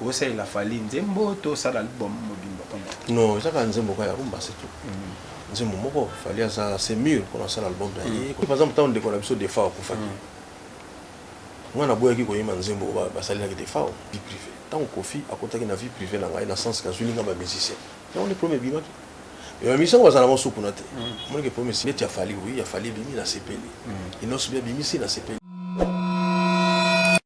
Osalela Fally nzembo to osala album mobimba pona ye? Non, eza kaka nzembo kaka ya rumba c'est tout. Nzembo moko, Fally aza assez mur pona asala album na ye. Par exemple tango ndeko na biso Defao akufaki, nga naboyaki koyemba nzembo oyo basalelaki Defao, vie privee. Tango Koffi akotaki na vie privee na ngai na sens que azuili nga ba musiciens, yango nde problème ebimaki. Mais ba musiciens yango bazala ngo supu na te. Omoni que problème neti ya Fally, oui ya Fally ebimi nasepeli, Innos'B abimisi nasepeli.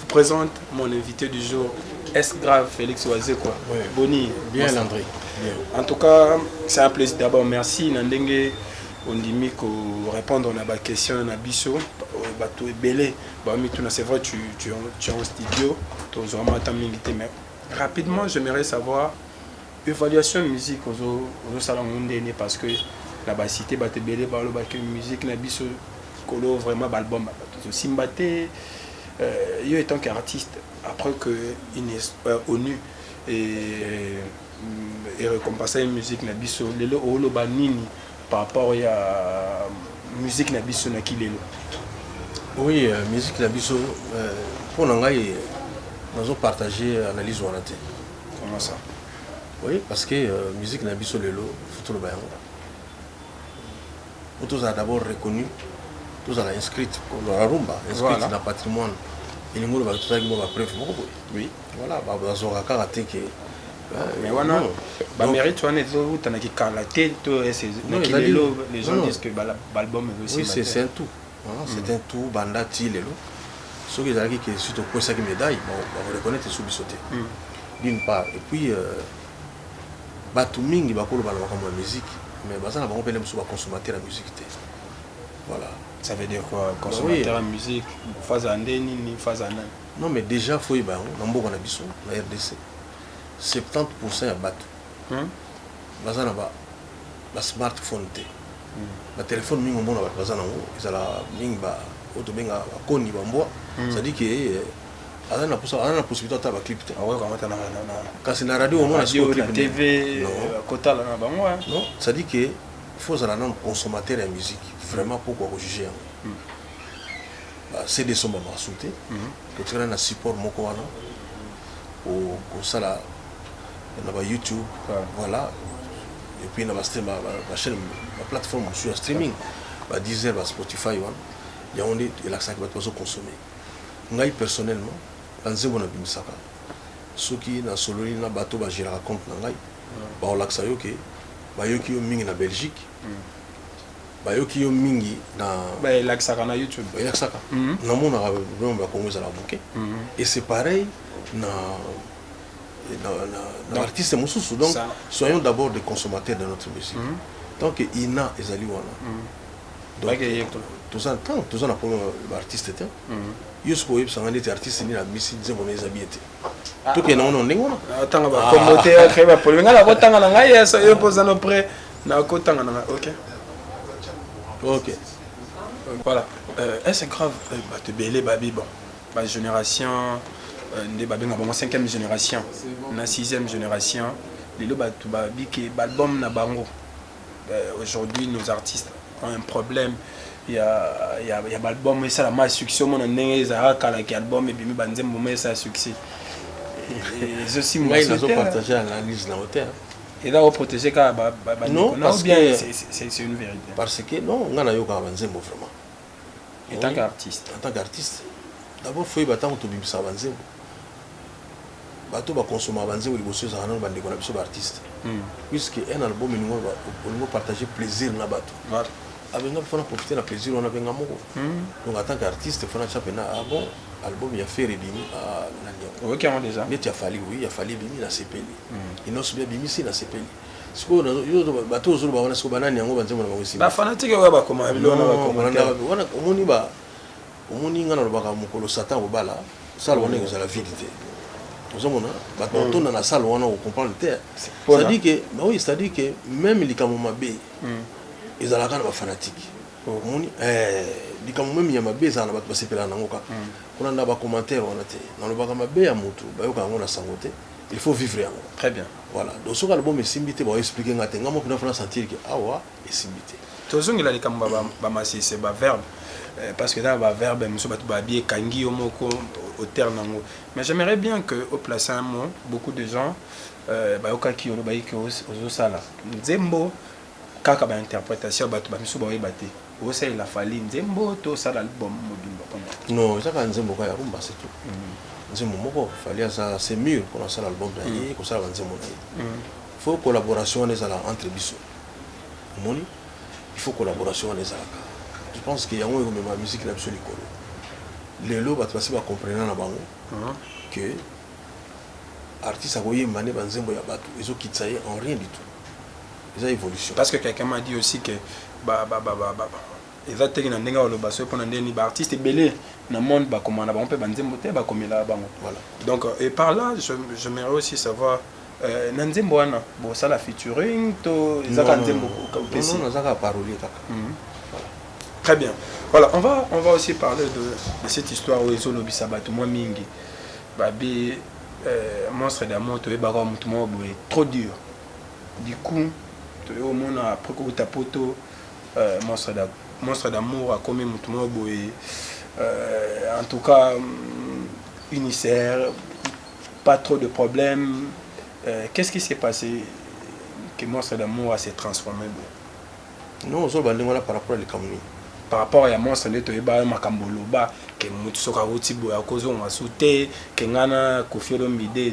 vous présente mon invité du jour est grave Félix Wazekwa ouais. Boni bien André bien. en tout cas c'est un plaisir d'abord merci na ndenge ondimi ko répondre na ba question na biso bato ebele bamituna c'est vrai tu, tu, tu es en studio tozwama ata mingi te mais rapidement j'aimerais savoir Evaluation ya musique ozo ozo sala ngo ndeni parce que na ba cite batu ebele ba loba que musique na biso kolo vraiment ba album ba batu ezo simba te euh, yo etant qu'artiste après que une euh, ONU et mm, et récompensa une musique na biso lelo oloba nini par rapport ya musique na biso na kilelo oui euh, musique na biso euh, mpo na ngai nazo partage analyse wana te Comment ça? Oui, parce que euh, musique na biso lelo faut toloba yango. Faut tozala d'abord reconnu, tozala inscrite pour la rumba, inscrite voilà. na patrimoine. Elingi oloba tozalaki mwa bapreuve moko boye. Oui. Voilà, bazwaka kaka te ke mais wana bamérite wana ezowuta na kikala te to ezalilelo les gens disent que baalbum ezosimba oui c'est un tout C'est un tout banda ti lelo soki ezalaki ke si tokwesaki medaille bako reconnaitre lisusu biso te d'une part et puis batu mingi bakoloba na makambo ya musique mais baza na bango pene mosusu ba consommateur ya musique te voilà ça veut dire quoi consommateur ya musique faza nde nini faza nani non mais déjà faut yeba yango na mboka na biso na rdc 70 ya batu baza na ba ba smartphone te ba telephone mingi omona bato baza nango ezala mingi ba oyo tobenga bakoni bambwa hmm. cestadi ke eh, aza na posa aza na possibilité ata baclip te kasi na radio omona sikokotala na bango non cestadi ke faut ozala nano consommateur ya musique vraiment mpo kwa kojuge yango hmm. cd esombamaka su te hmm. totikala na support moko wana kosala na ba YouTube voilà et puis na ba stream ba chaîne ba plateforme mosusu ya streaming ba Deezer ba Spotify wana yango nde elakisaki bato bazo consomme ngai personnellement banzembo nabimisaka soki nasololi na bato bageraka compte na ngai bakolakisa yo ke bayoki yo mingi na belgique mm. bayoki yo mingi na elakisaka na youtube elakisaka mm-hmm. namonaka vraiment bakongo ezalaka moke mm-hmm. et c'est pareil na na ba artistes mosusu donc soyons d'abord des consommateurs de notre musique mm -hmm. tant que ina ezali wana mm -hmm. donc toza ntango ah, toza na problème ba artiste te mm -hmm. yo sikoyo oyebisa ngai neti artiste nini abimisi nzembo na eza bien te ah. tokende nango na ndenge wana ah, tanga bakombo te créer bapolemika ngai nakotanga na ngai yeso yo mpo oza no près nakotanga na ngai ok ok voilà euh, est ce grave euh, bato ebele babi bon Ba generation nde ba benga bango 5e generation na 6e generation lelo batu ba bike ba album na bango euh, aujourd'hui nos artistes ont un problème ya ya ya ba album esala ma succès mona ndenge ezalaka kala ki album ebimi ba nzembo ma esala succès ezo simba ngai nazo partager analyse na hotel eza oprotege kaka bandeko na ou bien c'est une vérité parce que non ngai nayokaka banzembo vraiment en tant qu'artiste en tant qu'artiste d'abord faut yeba ntango tobimisaka banzembo bato bakonsomaka banzembo liboso ezalaka nano bandeko na biso baartiste hmm. puisque un album elingo olingo partage plaisir na bato abenga mpe fana profite na plaisir wana abenga moko hmm. donc en tant qu'artiste fana tya mpena ah bon album ya fer ebimi ah, nani yango neti ya fali oui ya fali ebimi nasepeli hmm. inosbi abimisi nasepeli sikoyo nazo yo to bato ozo loba wana sikoyo ba nani yango ba nzembo na bango esimba ba fanatique oyo ba koma biloko na ba commentaire wana omoni ba omoni nga na lobaka mokolo satan obala sala wana ekozala vide te ozomona bato hmm. batonda na sale wana okomprendre te cestadire ke baoyo cestadire ke meme likambo mabe hmm. ezalaka na bafanatike oh. omoni eh, likambo meme ya mabe ezala na bato basepelaka nango kaka hmm. kuna na bacommentaire wana te nalobaka mabe ya motu bayoka yango na sango te Il faut vivre yango. Très bien. Voilà. Donc soki album esimbi te, ba expliquer nga te. Nga moko na fana sentir que awa esimbi te. Tozongela likambo ba ba masese ba verbe euh, parce que dans ba verbe musu batu ba bi ekangi yo moko auteur nango. Mais j'aimerais bien que au place un mot beaucoup de gens euh, bayokaki yo lobayiki ozosala nzembo kaka ba interpretation batu ba misu baoyeba te. Osalela Fally nzembo to osala album mobimba mpo na ye? Non, eza kaka nzembo kaka ya rumba c'est tout. Nzembo moko, Fally aza assez mur mpo na kosala album na ye, kosala ba nzembo na ye. Il faut collaboration wana ezala entre biso. Omoni? Il faut collaboration wana ezalaka. Je pense que yango ekomema musique na biso likolo. Lelo bato basi ba comprena na bango que artiste akoyemba nde ba nzembo ya bato, ezokitisa ye en rien du tout. eza evolution parce que quelqu'un m'a dit aussi que ba ba ba ba, ba. eza teke na ndenge oloba soki mpona ndeni ba artiste ebele na monde bakomana bango mpe banzembo te bakomelaka bango voilà donc euh, et par là je, je merais aussi savoir euh, na nzembo wana bosala featuring to ezaka nzembo opesi nazaka parolier kaka mhm. très bien voilà on va on va aussi parler de, de cette histoire oyo ezolobisa bato mwa mingi babi euh, monstre d'amour toyebaka motu moko boye trop dur Du coup toye komona après kowuta poto monstre d'amour akomi mutu moko boye en tout cas uniser pas trop de problème qu'est-ce qui s'est passe que monstre d'amour a se transformer boye? Non ozo loba ndenge wana par rapport ya likambo nini? Par rapport ya monstre nde toyeba yo makambo oloba que mutu soki awuti boye akozonga su te que nga na koffi olomide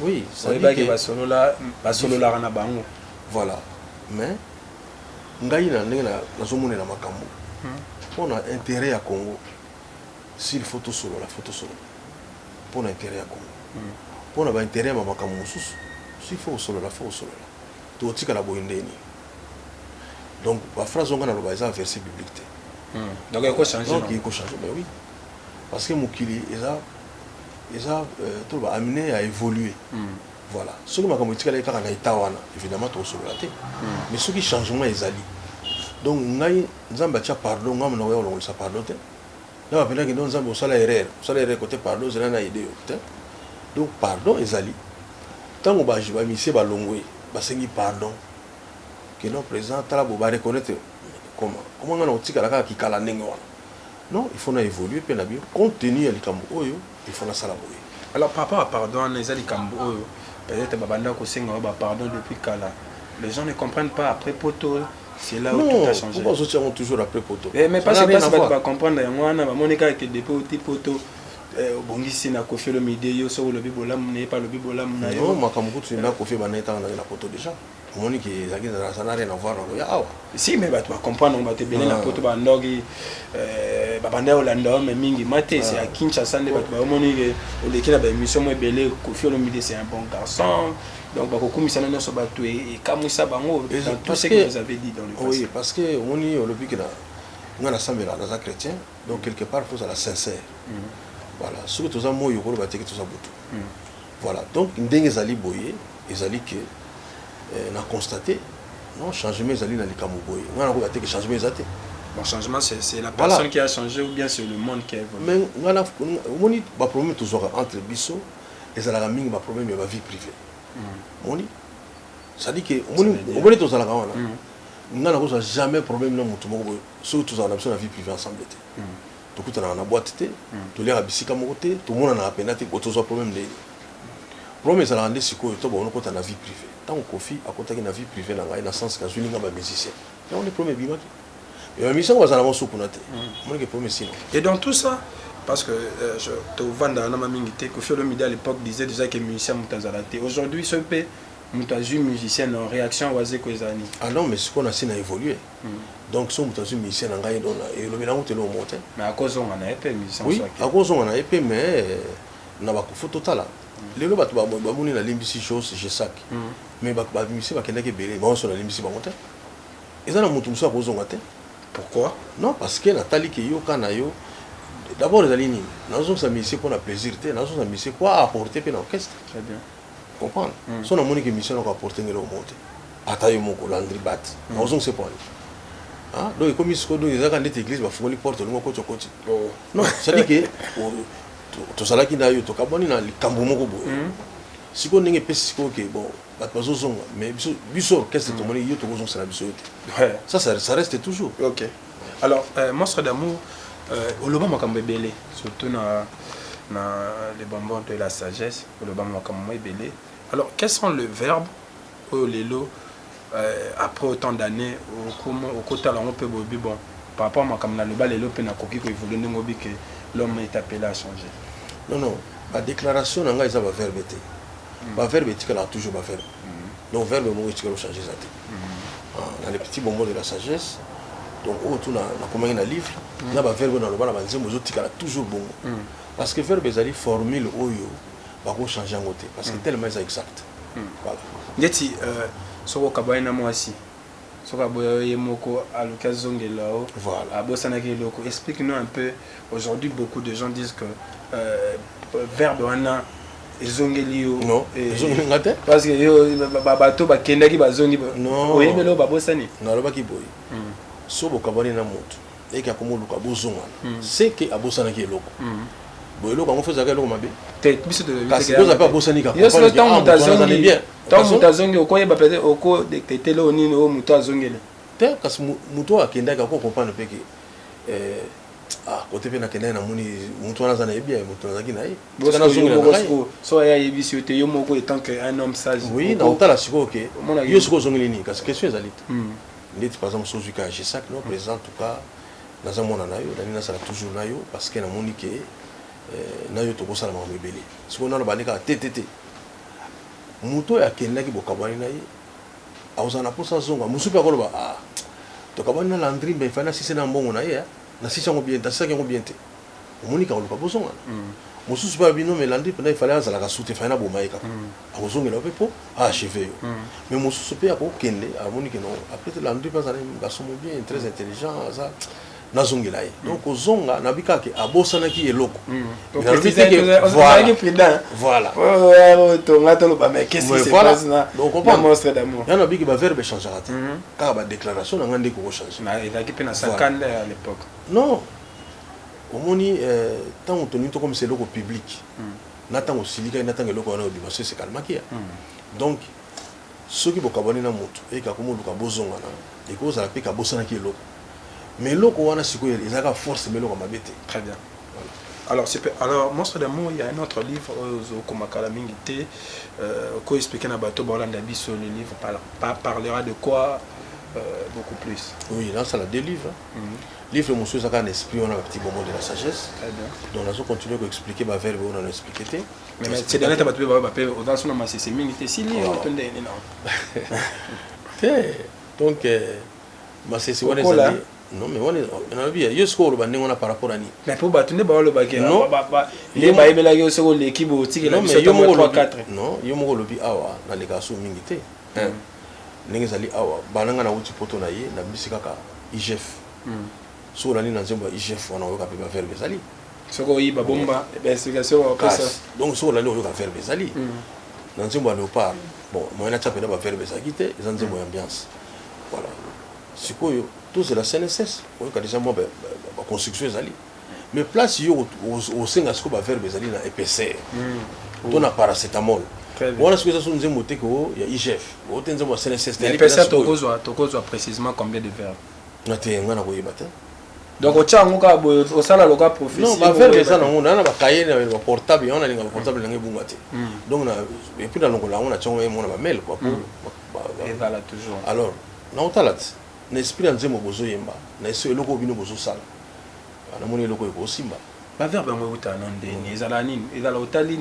oui oyebaki basolola basololaka na bango voilà mais ngai na ndenge nazomonela makambo mpo hmm. na intérêt ya congo s'il faut tosolola faut tosolola mpo na intérêt ya congo mpo hmm. na baintérêt ya makambo mosusu s'il faut osolola faut osolola totikala boye ndenge nini donc baphrase onga naloba eza verset biblique te hmm. donc ekochange ekochange mais oui parce que mokili eza eza to ba amener à evoluer voilà soki makambo etikali kaka na etat wana évidemment tokosolola te mais soki changement ezali donc ngai nzambe atia pardon ngai monoko ya kolongolisa pardon te na bapendaki donc nzambe osala erreur osala erreur kote pardon ozela na aide yo te donc pardon ezali ntango bamisie balongwe basengi pardon que non président tala bo bareconnaitre comment comment ngai nakotikala kaka kikala ndenge wana Non il faut na evoluer pe na bi compte tenu ya likambo oyo il faut na sala boye. Alors par rapport ya pardon wana eza likambo oyo peut etre ba banda ko senga yo ba pardon depuis kala les gens ne comprennent pas après poto c'est là où tout a changé. Non pourquoi ozo tia ngo toujours après poto? Eh mais pasi pasi batu ba comprendre yango wana ba moni kaka ke depuis oti poto Eh, obongisi na kofi olomide yo soki olobi bolamu na ye mpe alobi bolamu na yo makambo kutu na kofi ebandaki ntango naye na poto deja omoni ke ezalaki ça n'a rien à voir na koya awa si mais bato bacomprendre yango bato ebele na ah. poto bandoki euh, babanda ya olanda yo me mingi ma te se ya ah. kinshasa nde bato baomoni ke oleki na baémission mo ebele kofi olomide c'est un bon garçon donc bakokumisana nyonso bato e, ekamwisa bango dans tout ce que vous avez dit dans le passé oui parce que omoni olobi ke na nga nasambela naza chrétien donc quelque part faut ozala sincère mm. voilà soki toza moi okoloba teke toza butu mm. Voilà donc ndenge ezali boye ezali ke eh, na constate non changement ezali na likambo boye ngai nakoka te ke changement eza te Bon, changement, c'est la personne voilà. qui a changé ou bien c'est le monde qui a évolué. Mais on a, on a, bah, problème tous entre biso, et ça la mingi, bah, problème, il y a vie privée. Mm. On dit, ça dit que, on dit, on dit tous à la grande. On n'a jamais problème, non, tout le monde, surtout tous à la vie privée ensemble. Mm. tokutanaka na boîte te toliaka bisika moko te tomonanaka mpenza te tozwa problème ndenge nini problème ezalaka nde sikoyo to bakono kota na vie privée ntango kofi akotaki na vie privée na ngai na sens ke azwili ngai bamusicien yango nde problème ebimaki mais bamusicien yango bazala bango so kuna te omonike problème esino et dans tout ça parce que euh, tovandaka na mamingi te kofi olomide à l'époque disait déjà que musicien moto azala te aujourd'hui soki mpe moto azwi musicien na réaction wazeko ezali ah non mais sikoyo nasi na évoluer donc soki moto azwi musicien na ngai dona elobi nango te eloko moko te mais akozonga na ye mpe musicien oui akozonga na ye mpe mais na bakofo totala lelo bato bamoni nalimbisi jos jesak mais bamusicien bakendaki ebele banso nalimbisi bango te eza na moto mosusu akozonga te pourquoi non parce que natali ke yo ka na yo d'abord ezali nini nazongisa musicien mpo na plaisir te nazongisa musicien mpo aapporte mpe na orchestre comprendre mm. so namoni ke mission nako apporte ngeloko moko te ata yo moko landri bat mm. nakozongisa epo ani ah, donc ekomi sikoyo donc ezalaka ndeti église bafungoli porte olingi okoti okoti oh. non cetadi ke tozalaki na yo tokabwani na likambo moko boye mm. sikoyo ndenge epesi sikoyo ke bon bato bazozonga mais biso biso orchestre tomoni yo tokozongisela biso yo te ça ça reste toujours ok alors euh, monstre d'amour euh, oloba makambo ebele surtout na na le bonbon de la sagesse Koloba makambo mwa ebele. Alors, quels sont les verbes oyo lelo euh, après autant d'années okotala yango mpe boyebi bon par rapport makambo naloba lelo mpe nakoki koévolue ndenge obi ke l'homme est appelé à changer non non badéclaration na ngai eza baverbe te mm. baverbe etikalaka toujours baverbe mm. donc verbe moko etikala ochange eza te mm. ah, na le petit bonbon de la sagesse donc oyo tu nakomaki na livre na baverbe oyo naloba na banzembo ezotikala toujours bongo Parce que verbe ezali formule oyo bako changer yango te parce que tellement eza exact. Voilà. Ndeti soki okabwani na mwasi, soki aboya yo ye moko aluki azongela yo, abosanaki eloko, explique nous un peu, aujourd'hui beaucoup de gens disent que verbe wana ezongeli yo, non ezongeli nga te, parce que yo bato bakendaki bazongi, oyebi eloko babosani? Nalobaki boye, soki bokabwani na moto Eke akomoluka bozongana. Ce que abosanaki eloko. Bon eloko yango fo ezalaka eloko mabe? Te, biso toyebi te. Kasi Doza pe abosani ka comprendre que ah mutu wana azali bien. Tango mutu azongi okoyeba peut etre oko detecter eloko nini oyo mutu azongeli. Te, kasi mutu oyo akendaki ako comprendre pe que eh ah cote pe nakendaki namoni mutu wana aza na ye bien, mutu nazalaki na ye. Tika nazongela na ngai. Soki ye ayebisi yo te, yo moko etant que un homme sage. Oui, nakotala sikoyo que yo sikoyo ozongeli nini? Kasi question ezali te. ndeti par exemple sozuika ya gesac no president tuka naza mwana na yo nalingi nasala toujours na yo parce que namoni ke eh, na yo tokosala makambo ebele sikoyo nano bandi kaka te te te moto oyo akendaki bokabwani na ye akozala na mposa azonga mosusu mpe akoloba ah, tokabwani na landri mbe fai nasisi na mbongo na ye nasisi yango bien nasisaki yango bien te omoni kaka oluka bozongana mm. mosusu mpe alobi no mais landry mpenza efale azalaka sute fai na boma ye kaka mm. akozongela mpe mpo aacheve yo mm. mais mosusu mpe akokende amoni keno apres te landry mpe azali gasomo bien très mm. intelligent aza nazongela ye donc kozonga nabi kaka ke abosanaki eloko ya nabiki baverbe echangaka te kaka badéclaration na ngai nde kokochange non Omoni eh, tango tolingi tokomisa eloko public, mm. na tango osilikaki na tango eloko wana obima se se calmaki ya. Mm. Donc soki bokabwani na moto eke akomi oluka bozongana, ekozala mpe kabosanaki eloko. Mais eloko wana sikoyo ezalaka force mais eloko mabe te. Très bien. Alors, alors Monstre d'amour, il y a un autre livre, Ozokomakala euh, mingi te, euh, ko expliquer na bateau Bolanda Bisso, le livre parlera de quoi euh, beaucoup plus. Oui, là, ça la délivre. Mm -hmm. Livre mosusu eza kaka na esprit wana ba petit bonbon de la sagesse. Donc nazo continuer ko expliquer ba verbe oyo na expliquer te. Mais mais c'est dernier bato ba ba pe oza sona masese mingi te si livre to nde nini na. Te donc euh, masese wana ezali non mais wana nalobi yo sikoyo oloba ndenge wana par rapport ani mais mpo bato nde baolobaki nde bayebelaki yo soki oleki botikela biso yo moko olobi awa naleka so mingi te ndenge ezali awa banda nga nawuti poto na ye na bimisi kaka igf soki olandi na nzembo ya igf wana oyoka pe ba verbe ezali soki oyiba bomba ba explication ba pesa donc soki olandi oyoka verbe ezali mm. na nzembo ya leopard bon moyen na tia pena ba verbe ezalaki te eza nzembo ya ambiance voilà sikoyo tozela cnss oyoka deja mwa ba construction ezali Mais place yo osenga siko ba verbe ezali na épaisseur hmm. to na paracetamol. Wana siko eza so nzembo te ko ya IGF. O te nzembo ya CNSS. Mais épaisseur tokozwa tokozwa précisément combien de verbes? Na te nga na koyeba te. donc otya yango kaka boye osala loka prophétiebavere eza nango naa na bakaye na baportable yango nalinga baportable nange ebunga te donc epuis nalongola yango natya yango emona bamail kua alors naotala te na esprit ya nzembo bozoyemba na eso eloko bino bozosala Ah, namoni eloko oyo ekosimba ba verbe yango euta na ndeni ezalaka nini ezala otali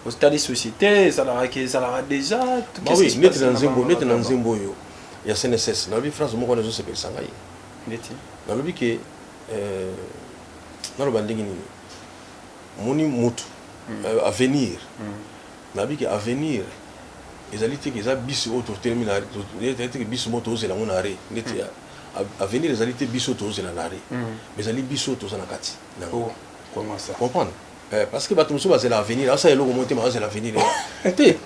otali société ezalaka ke ezalaka déjà bah oui neti na nzembo neti na nzembo oyo ya CNSS nalobi phrase moko wana ezosepelisa ngai neti nalobi ke euh, naloba ndenge nini moni mutu hmm. euh, avenir hmm. nalobi ke avenir ezali te ke eza bisi oyo totelemi na te ke bisi moko tozela yango na re neti hmm. avenir ezali te biso tozela na re mais ezali biso toza na kati na yango comprendre eh, parce que bato mosusu bazela avenir asala eloko moko te bazela avenir te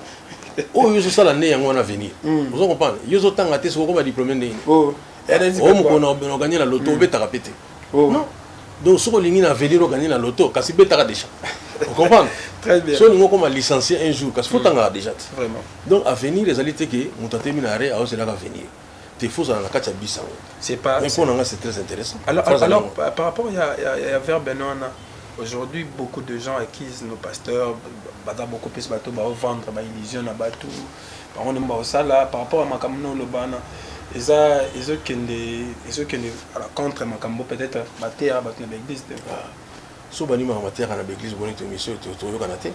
oyo yo ozosala nde yango wana avenir hmm. ozo comprendre yo ozotanga te soki okoma diplome ndenge nini oh. oyo mokolo na oganye na loto hmm. obetaka mpe te oh. non donc soki olingi na avenir oganye na loto kasi betaka déjà okomprendre soki olingi okoma licencié un jour kasi fotangaka hmm. déjà te donc avenir ezali te ke moto atemi na re aozelaka avenir te faut ozala na kati ya bus yango c'est pas mais pona nga c'est très intéressant alors, alors, alors par rapport ya ya, ya verbe na wana aujourd'hui beaucoup de gens accusent nos pasteurs baza beaucoup plus bato ba vendre ba illusion na bato bango nde baosala par rapport ya makambo na oloba wana eza ezokende ezokende à la contre makambo peut-être bateyaka bato na baeglise te ah. so bandimaka bateyaka na baeglise boni to mission toyokana te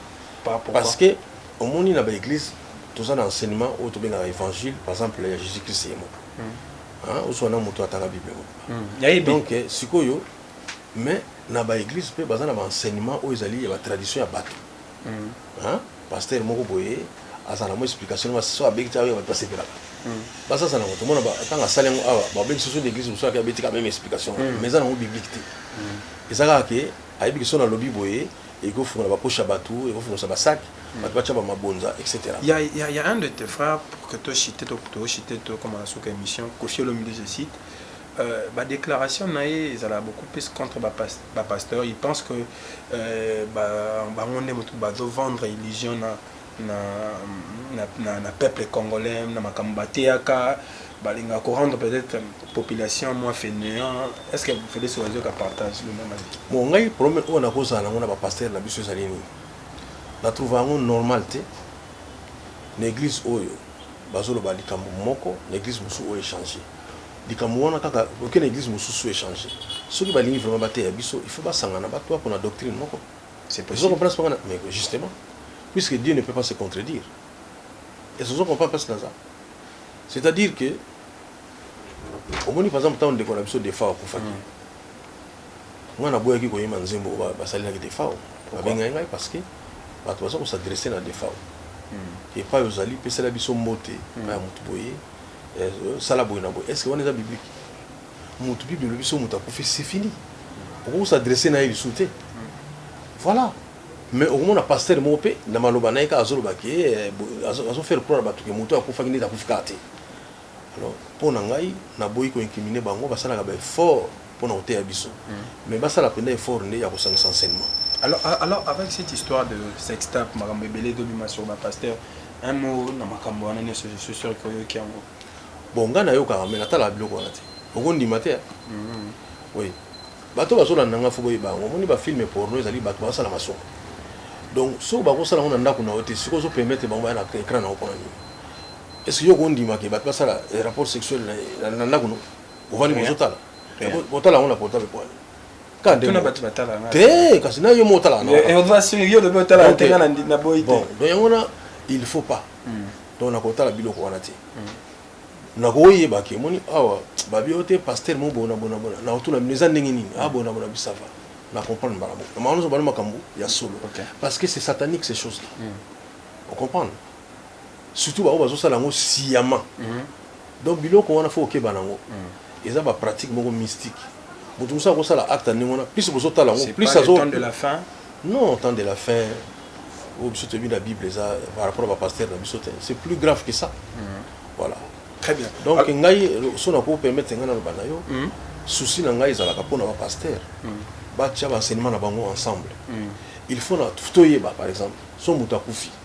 parce que Omoni na ba eglise toza na enseignement oyo tobengaka evangile par exemple ya Jesus Christ ye moko hein ozua na mutu atanga bible moko donc sikoyo mais na ba eglise pe baza na ba enseignement oyo ezali ya ba tradition ya batu hein pasteur moko boye azana mo explication ma so abeki ta ba pasepelaka baza za na moto mona ba tanga sali yango awa ba beki soso d'église musu aka beti ka même explication mais za na biblique te ezaka ke ayebi ke so na lobi boye eko fungola ba poche ya batu eko fungosa ba sac batu ba tia ba mabonza etc. Ya ya ya un de tes frères pour que to chite to to chite to koma na suka emission koffi olomide je cite euh, ba declaration na ye ezala beaucoup plus contre ba pas, ba pasteur il pense que euh, ba bango nde mutu bazo vendre illusion na na na peuple congolais na makambo bateyaka balingaka ko rendre peut-être population mwa fainéant est-ce que Felix Ozoka partage le même avis bon ngai problème oyo nakozala nango na ba pasteur na biso ezali nini na trouve yango normal te na église oyo bazoloba likambo moko na église mosusu oyo echange likambo wana kaka oke na église mosusu echange soki balingi vraiment bateya biso il faut basangana bato bapona doctrine moko C'est possible. Ozo comprendre ce qu'on a? Mais justement, puisque Dieu ne peut pas se contredire. Et ce sont comprendre parce que ça. C'est-à-dire que, au moins, par exemple, tant de qu'on a besoin de faire pour faire. Moi, na boya ki ko yema nzembo ba ba sali na ki defao. Ba benga ngai parce que ba to bazo s'adresser na defao. Et pas aux ali pesa la biso mbote, pas mutu boye. Sala boye na boye. Est-ce que on est biblique? Mutu bible elobi so mutu akufi c'est fini. Okoki s'adresser na ye lisusu te. Voilà. Mais okomona pasteur moko pe na maloba na ye kaka azoloba ke eh, azo faire croire batu ke mutu akufaki nde akufi kaka te. Alors mpo na ngai naboyi ko incriminer bango basalaka ba effort mpo na koteya biso. Mm. Mais basala mpenza effort nde ya kosangisa enseignement. Alors, alors avec cette histoire de sextape makambo ebele ezobima sur ba pasteur un mot na makambo wana nyonso je suis sûr que oyoki yango Bon nga na yokaka mais na talaka biloko wana te oko ndima te hein oui bato bazo landa nga faut boyeba yango omoni ba film porno ezali bato bazo sala masoko donc soki bako sala yango na ndaku na yo te sikoyo ozo permettre bango baya na ecran na yo pona nini est ce que yo oko ndima ke bato basala rapport sexuel na ndaku no ovandi bozo tala otala yango na portable pona nini te kasi na yo mo otalaka na yango wana il faut pas hmm. Donc na kotala biloko wana te. Na koyeba ke moni awa ba bio te pasteur mo bona bona bona. Na otuna bino eza ndenge nini? Ah bona bona bi ça va. Na comprendre mbala moko. Na makambo bana makambo ya solo. Parce que c'est satanique ces choses là. Au comprendre? Surtout ba oyo bazo sala ngo sciemment. Donc biloko wana faut okeba nango eza ba pratique moko mystic mutu mususu ako sala acte ndenge wana plus bozo tala ngo plus azo temps de la fin non temps de la fin oyo biso toyebi na bible eza par rapport à ba pasteur na biso te c'est plus grave que ça mm. voilà très bien donc Al ngai so na ko permettre ngai na loba na yo mm. souci na ngai ezalaka pona ba pasteur mm. ba tia ba enseignement na bango ensemble mm. il faut na toyeba par exemple so mutu akufi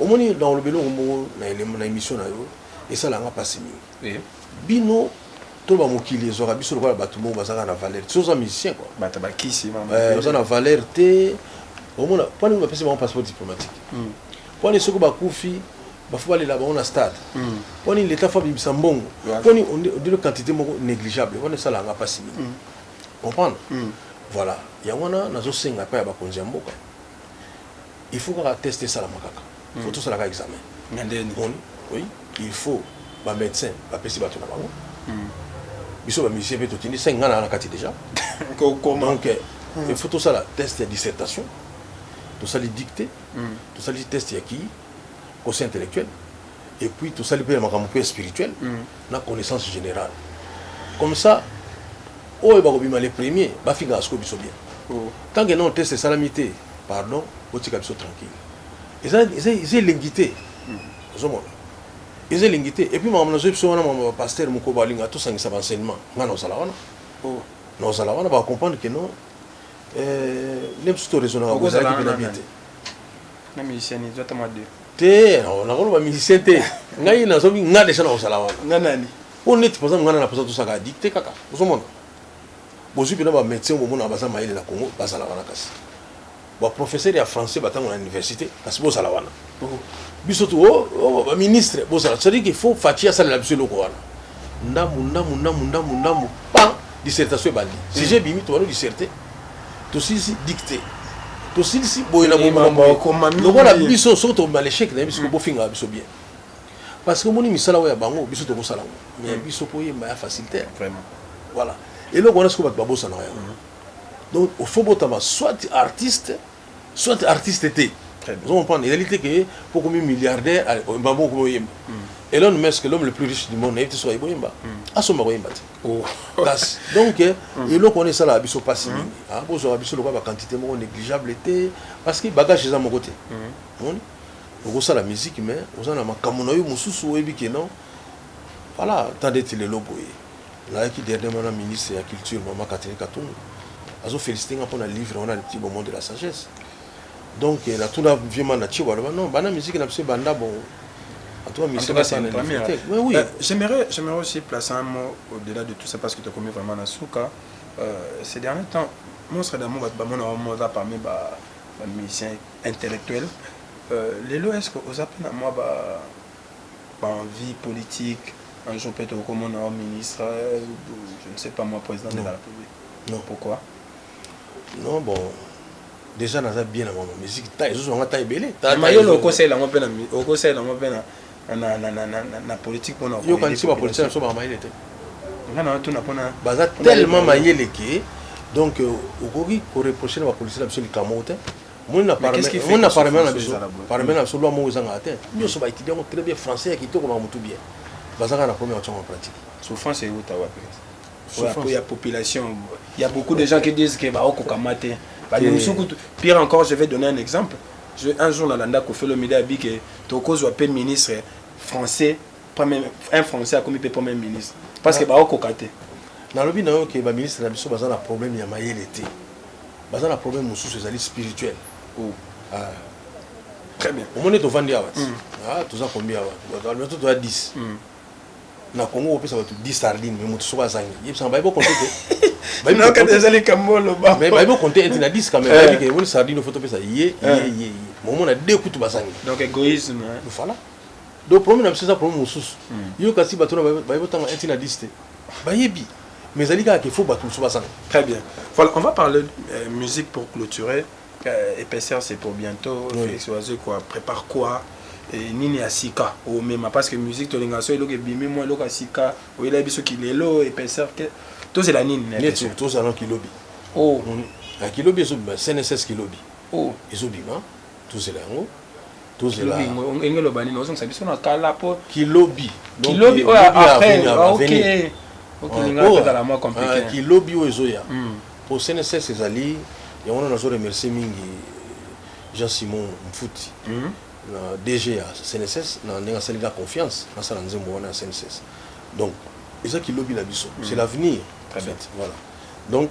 Omoni na oloba eloko moko na elemu na emission na yo esala nga pasi mingi. Bino to ba mokili ezwaka biso lokola bato moko bazaka na valeur. Ti oza musicien quoi. Bato ba kisi ba mokili. Eh, oza na valeur te. Omona mpo nini bapesi bango passeport diplomatique? Mm. Mpo nini soki bakufi bafu balela bango na stade? Mm. Mpo nini leta fo abimisa mbongo? Mpo nini ondire quantité moko négligeable wana esala yanga mpasi mingi. Mm. Comprendre? Mm. Voilà. Yango wana nazosenga mpe ya bakonzi ya mboka Il faut kaka test esalama kaka il faut tosala kaka examen mais nde nini omoni oui il faut ba medecin ba pesi batu na bango biso ba musicien pe totindi 5 nga na na kati dejà kokoma donc il faut tosala test ya dissertation tosali dictée tosali test ya ki conseil intellectuel et puis tosali pe ya makambo pe spirituel na connaissance générale comme ça oyo bakobima le premier bafingaka siko biso bien tant que non test esalami te pardon botika biso tranquille eza eza eza elengi te ozomona eza elengi te epuis makambo nazoyi biso wana makambo ya bapaster moko balinga tosangisa baenseignement ngai naozala wana oh. naozala wana bacomprendre ke non eh, nde mosusu toresonaka kozalaki mpe na bie te na musicien ezo ata mwa deux te nakoloba musicien te ngai nazobi nga deja nakozala wana nga nani mpo neti mpoza nga na napoza tosaka adikte kaka ozomona Bozui pena ba medecin oyo bomonaka baza mayele na congo bazala wana kasi ba professeur ya français batanga na universite kasi bozala wana biso tu oh, oh, ba ministre bozala cest que faut faci asalela biso eloko wana ndambu ndambu ndambu ndambu ndambu pa dissertation ebandi sujet bimi tobano disserte tosilisi dicte tosilisi boye na boye lokola biso soki tobima lechec na ye biso bofingaka biso bien Parce que omoni misala oyo ya bango biso tokosala yango mais hmm. biso mpo oyemba ya facile te vraiment voilà eloko wana sikoyo bato babosanaka yango hmm. donc ofo botama soit artiste soit artiste te ozo comprendre ezali te ke mpo okomi milliardaire oyemba mpo okomi oyemba elon musk l'homme le plus riche du monde nayebi te soki ayebi oyemba asomba koyemba te kasi donc eloko wana esalaka biso mpasi mingi bozwaka biso lokola baquantité moko négligeable te parce que bagage eza moko te omoni Okosala musique mais oza na makambu na yo mususu oyebi que non voilà ata ndeti lelo boye nalalaki dernièrement na ministre ya culture maman Catherine Katumbi azo felicite nga pona livre wana petit bonbon de la sagesse donc na tuna vieux man na tshio baloba non bana musique na biso ebanda bongo en tout cas musique na sana te mais oui euh, j'aimerais j'aimerais aussi placer un mot au-delà de tout ça parce que tu as commis vraiment na souka euh, ces derniers temps monstre d'amour bato bamonaka moza parmi ba ba musiciens intellectuel euh, lelo est-ce que oza pe na mwa ba ba envie politique un jour peut-être okomona wa ministre euh, je ne sais pas moi président de la république non pourquoi non bon déjà naza bien na bango musique ta ezozwa nga ta ebele mayolo okosela yango mpe na okosela yango mpe na politique mpona yokanisi bapolitike na biso baka mayele te nga na tuna mpona baza tellement mayele ke donc euh, okoki koreproche na bapolitike na biso likambo te omoni na parlement na biso parlement na biso loi moko ezangaka te nyonso ba étudiant yango très bien français ya kitoko makambo tu bien baza kaka na problème ya kotyama en pratique souffrance euta wapi ya population il y a beaucoup de gens qui disent que baokokama te bani mosusu kutu pire encore je vais donner un exemple je, un jour nalanda kofelo mide abi ke tokozwa mpe ministre français un français akomi mpe premier ministre parce que baokoka te nalobi na yo ke baministre na biso baza na problème ya mayele te baza na problème mosusu ezali spirituel oh. ah. très bien omoni tovandi awa ti mm. ah, toza kombi awa bato toya 10 mm. na congo kopesa bato 10 sardine me moto soko azangi yebisanga bayebi okonte te ezali kambo oloba mais bayebi okonte ete na 10 kame bayebi ke omoni sardine ofo topesa ye ye eh. ye momona de kutu bazangi donc égoïsme voilà donc problème na biso eza problème mosusu hmm. yo kasi bato na bayebi otanga 1 na 10 te bayebi mais ezali kaka ke faut bato mosusu bazala très bien voilà on va parler euh, musique pour clôturer euh, épaisseur c'est pour bientôt oui. Félix Oiseau quoi prépare quoi et nini ya sika omema parce que musique tolingaka so eloko ebimi mwa eloko ya sika oyelaki biso kilelo épaisseur ke tozela nini neti tozala kilobi o oh. na kilobi ezobima cnss kilobi o oh. ezobima tozela yango tozela kilobi enge loba nini ozongisa biso na kala po kilobi kilobi oyo après ah, ok ok linga tozala mwa compliqué ah, kilobi oyo ezoya hmm. po CNSS ezali yango wana nazo remercier mingi Jean Simon Mfuti hmm. na DG ya CNSS na ndenge asali nga confiance nasala nzembo wana ya CNSS donc eza kilobi na biso c'est hmm. l'avenir en fait voilà donc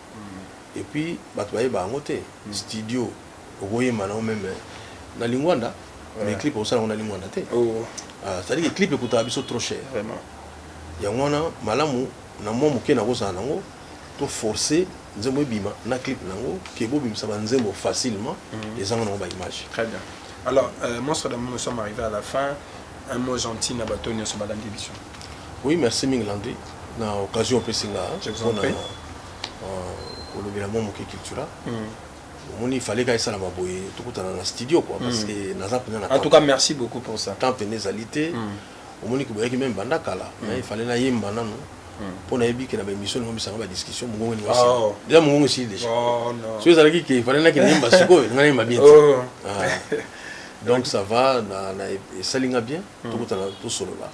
et puis batu ba yeba yango te studio oko yemba na yo meme na lingwanda mais clip oko sala ngo na lingwanda te oh. ah, c'est à dire clip ekutaka biso trop cher vraiment yango wana malamu na mwa moke na kozala na ngo to forcer nzembo ebima na clip na ngo ke bobimisa ba nzembo facilement mm. ezanga na ngo ba image très bien alors euh, monstre d'amour nous sommes arrivés à la fin Un mot gentil na bato nioso balandi biso. Oui merci mingi Landry na occasion opesi nga pona kolobela mwa moke cultura omoni fallait ka esalama boye tokutana na studio quoi parce que naza pena na en tout cas merci beaucoup pour ça temps pena ezali te omoni ke boyaki meme banda kala mais fallait na yemba nanu mpo nayebi ke na ba émission nango misanga ba discussion mongongo elinga sila deja mongongo esili deja soki ezalaki ke fallait nakende yemba sikoyo nga nayemba bien te Donc ça va na na esali nga bien hmm. tokutana tosolola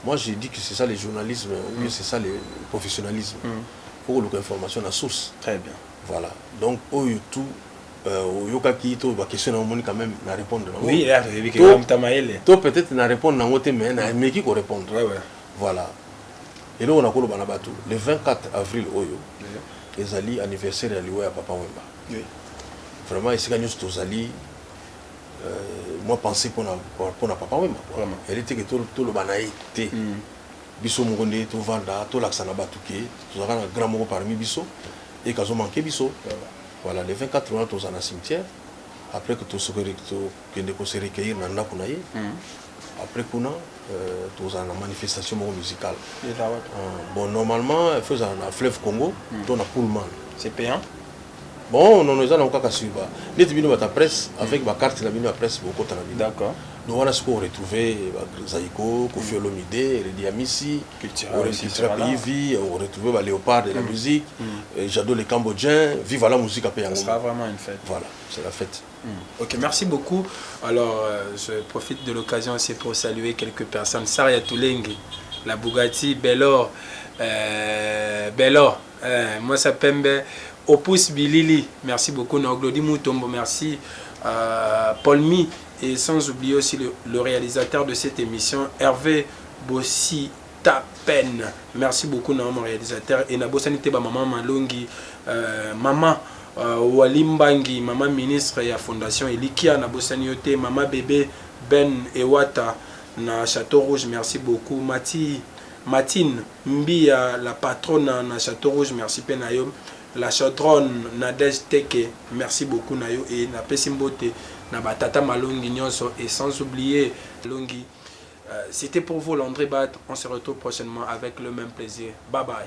moi je dis que c'est ça le journalisme ou bien hmm. c'est ça le professionnalisme hmm. faut koluka information na source très bien voilà donc oyo tout euh, oyokaki to baquestion na omoni quand même na répondre nango to peut-être na répondre nango te mais na meki ko répondre voilà eloko nakoloba na bato le 24 avril oyo ezali anniversaire ya liwa ya papa wemba vraiment esika nyonso tozali mwa pensee pona pona papa wemba quoi elle est que toloba na ye te biso moko nde tovanda tolakisa na batu ke tozalaka na grand moko parmi biso et kazo manque biso voilà le 24 wana tozala na cimetière après que tokende ko se recueillir na ndaku na ye après kuna tokozala na manifestation moko musicale bon normalement il faut ezala na fleuve congo to na pullman c'est payant Bon, non, eza na kaka sur ba neti bino bata presse avec ba carte na bino ya presse bokota na bino. D'accord. Donc wana siko retrouver ba Zaiko, Koffi Olomide, Reddy Amisi, au registre pays vie, au retrouver ba Léopard de la musique, euh, Jado le Cambodgien, vive la musique après Ça sera vraiment une fête. Voilà, c'est la fête. Ok, merci beaucoup. Alors, euh, je profite de l'occasion aussi pour saluer quelques personnes. Saria Toulengi, la Bugatti, Belor, euh, Belor, Eh, mwasi ya pembe opus bilili merci beaucoup na oglodi mutombo merci euh, polmi et sans oublier aussi le, le réalisateur de cette émission hervé bossi ta peine merci beaucoup na mon réalisateur et nabosani te bamama malongi euh, mama euh, wali mbangi mama ministre ya fondation elikia nabosani yo te mama bebe ben ewata na château rouge merci beaucoup mati Martine Mbiya la patrona na chateau rouge merci pe na yo la chaudronne Nadège Teke merci beaucoup na yo et na pesi mbote na ba tata malongi nionso et sans oublier longi C'etait pour vous Landry Bat on se retrouve prochainement avec le meme plaisir bye bye.